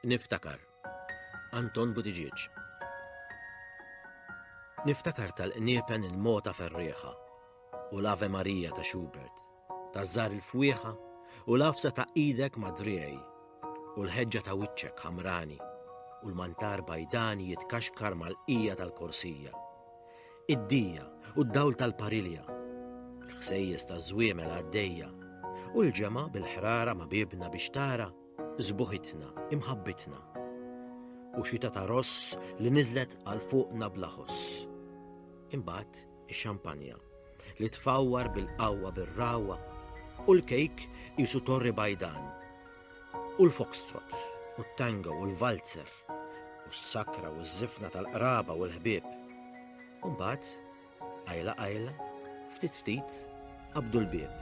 Niftakar. Anton Buttigieg. Niftakar tal-qniepen il-mota ferrieħa u l-Ave Marija ta' Schubert, ta' żar il-fwieħa u l-afsa ta' idek madriej u l-ħeġġa ta' wiċċek ħamrani u l-mantar bajdani jitkaxkar mal-qija tal-korsija. Id-dija u d-dawl tal-parilja, l-ħsejjes taż-żwiemel għaddejja, u l-ġemgħa bil-ħrara ma' biebna biex tara sbuħitna, imħabbitna. U xita ta' ross li niżlet għal fuqna bla ħoss. Imbagħad ix-xampanja li tfawwar bil-qawwa bir-ragħwa u l-kejk qisu torri bajdan. U l-foxtrot u t-tango u l-valzer. u s-sakra u ż-żifna tal-qraba u l-ħbieb. U mbagħad, qajla qajla, ftit ftit, qabdu l-bieb.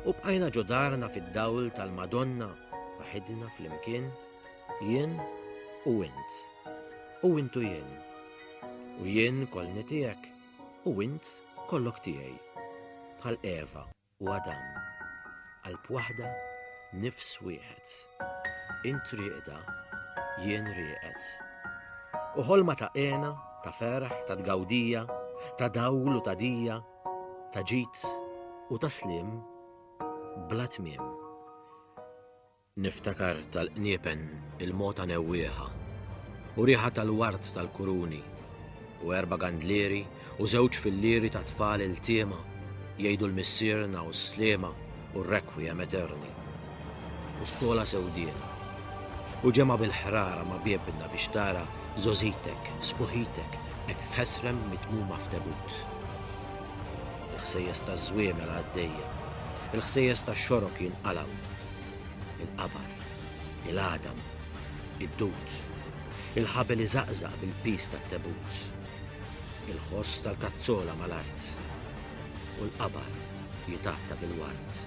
U bqajna ġo darna fid-dawl tal-Madonna waħidna flimkien, jien u int. U int u jien. U jien kolni tiegħek u int kollok tiegħi. Bħal Eva. u Adam, qalb waħda, nifs wieħed. Int rieqda, jien rieqed. U ħolma ta' hena, ta' ferħ, ta' tgawdija, ta' dawl u ta' dija, ta' ġid u ta' sliem bla tmiem. Niftakar tal-qniepen il-mogħta newwieħa, u riħa tal-ward tal-kuruni, u erba' gandlieri u żewġ fillieri ta' tfal iltiema jgħidu l-Missierna u s-Sliema u r-Requiem Aeterni, u stola sewdiena, u ġemgħa bil-ħrara ma' biebna biex tara żgħożitek, sbuħitek hekk ħesrem mitmuma f'tebut. Il-ħsejjes taż-żwiemel għaddejja, il-ħsejjes tax-xorok jinqalgħu, il-qabar, il-għadam, id-dud, il-ħabel iżaqżaq bil-piż tat-tebut, il-ħoss tal-kazzola mal-art, u l-qabar jitgħatta bil-ward.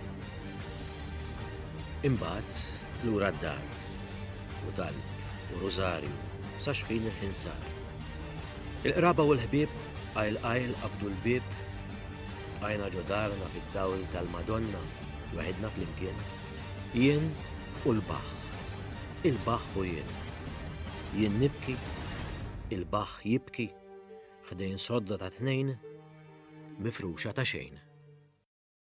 Imbagħad lura d-dar, u talb u rużarju sa xħin il-ħin sar. Il-qraba u l-ħbieb qajl qajl qabdu l-bieb, qajna ġodarna fid-dawl tal-Madonna, Weħidna flimkien, jien u l-baħħ, il-baħħ u jien. Jien nibki, il-baħħ jibki, ħdejn sodda ta' tnejn, mifruxa ta' xejn.